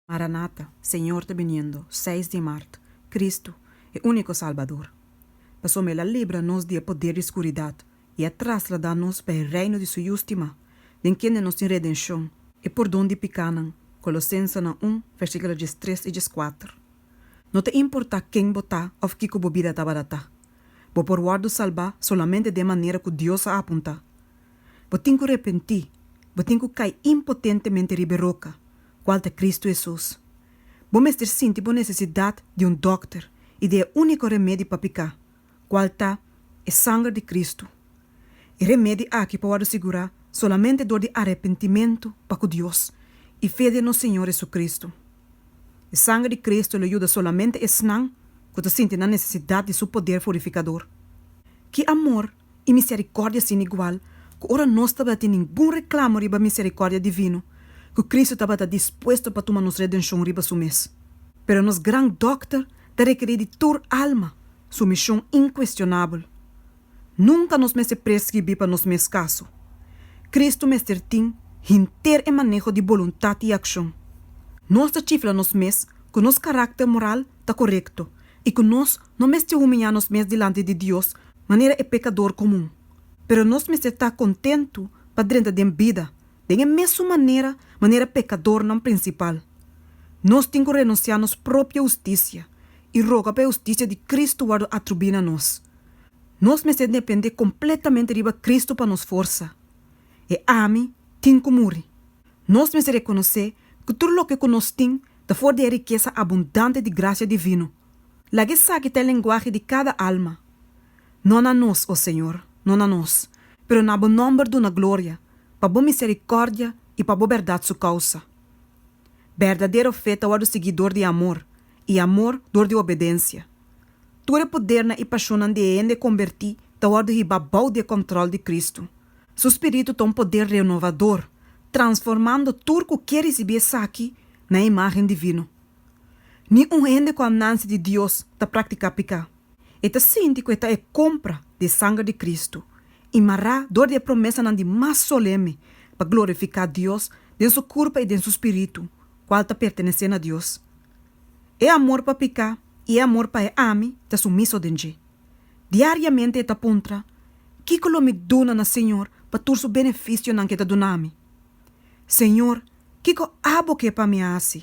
Maranata, Señor ta biniendo, seis di mart, Cristo, e único Salbador. Pasobra El a libra nos di e poder di scuridad y a trasladá nos pa e Reino di Su Yu stimá, den kende nos tin redencion, e pordon di picánan, Colosensenan un, versículo diestres y diescuater. No ta importá ken bo ta of kico bo bida tabata ta, bo por wòrdu salbá solamente den manera cu Dios a apuntá. Bo tin cu repentí, bo tin cu cai impotentemente riba e roca, cual ta Cristo Hesus. Bo mester sinti bo necesidad di un dokter y di e unico remedi pa pica, cual ta e sanger di Cristo. E remedi aki por wordo sigura solamente door di arrepentimento pa cu Dios y fe den nos Señor Hesucristo. E sanger di Cristo lo yuda solamente esnan cu ta sinti nan necesidad di Su poder furificador. Ki amor i misericordia sin igual, cu ora nos tabatin ningun reclamo riba misericordia divino, cu Cristo tabata dispuesto pa tuma nos redencion riba su mes. Pero nos Gran Dokter ta rekeri di tur alma, su mision incuestionabel. Nunca nos mester prescribi pa nos mes caso. Cristo mester tin hinter e maneho di boluntad i accion. Nos ta chifla nos mes cu nos caracter moral ta corecto i ku nos no mester humiñá nos mes dilanti di Dios manera e pekador komun. Pero nos mester ta kontentu pa drenta den bida den e mesun manera manera pekadornan prinsipal. Nos tin ku renunsiá nos propio hustisia i roga pa e hustisia di Kristu wòrdu atribui na nos. Nos mester dependé kompletamente riba Kristu pa nos forsa. E ami tin ku muri. Nos mester rekonosé ku tur loke ku nos tin Ta for di e rikesa abundante di grasia divino. Laga esaki ta e lenguahe di kada alma. No na nos, o Señor, no na nos, pero na Bo nòmber duna gloria, pa Bo miserikòrdia i pa Bo bèrdat su kousa. Bèrdadero fe ta wòrdu sigui dor di amor, i amor dor di obedensia. Tur e podernan i pashonnan di e hende konbertí ta wòrdu hibá bou di e kòntròl di Kristu. Su Spiritu ta un poder renovador, transformando tur cu kier ricibi esaki na e imagen divino. Ni un hende cu a nanci di Dios ta practica pica. E ta sinti cu e ta e compra di e sanger di Cristo y mará dor di e promesanan di mas soleme pa glorifica Dios den su curpa y den su spiritu, cual ta pertenece na Dios. E amor pa pica y e amor pa e ami ta sumiso den dje. Diariamente e ta puntra, Kiko lo mi duna na Señor pa tur su beneficionan ke ta dunami? Señor, kiko abo ke pa mi hasi?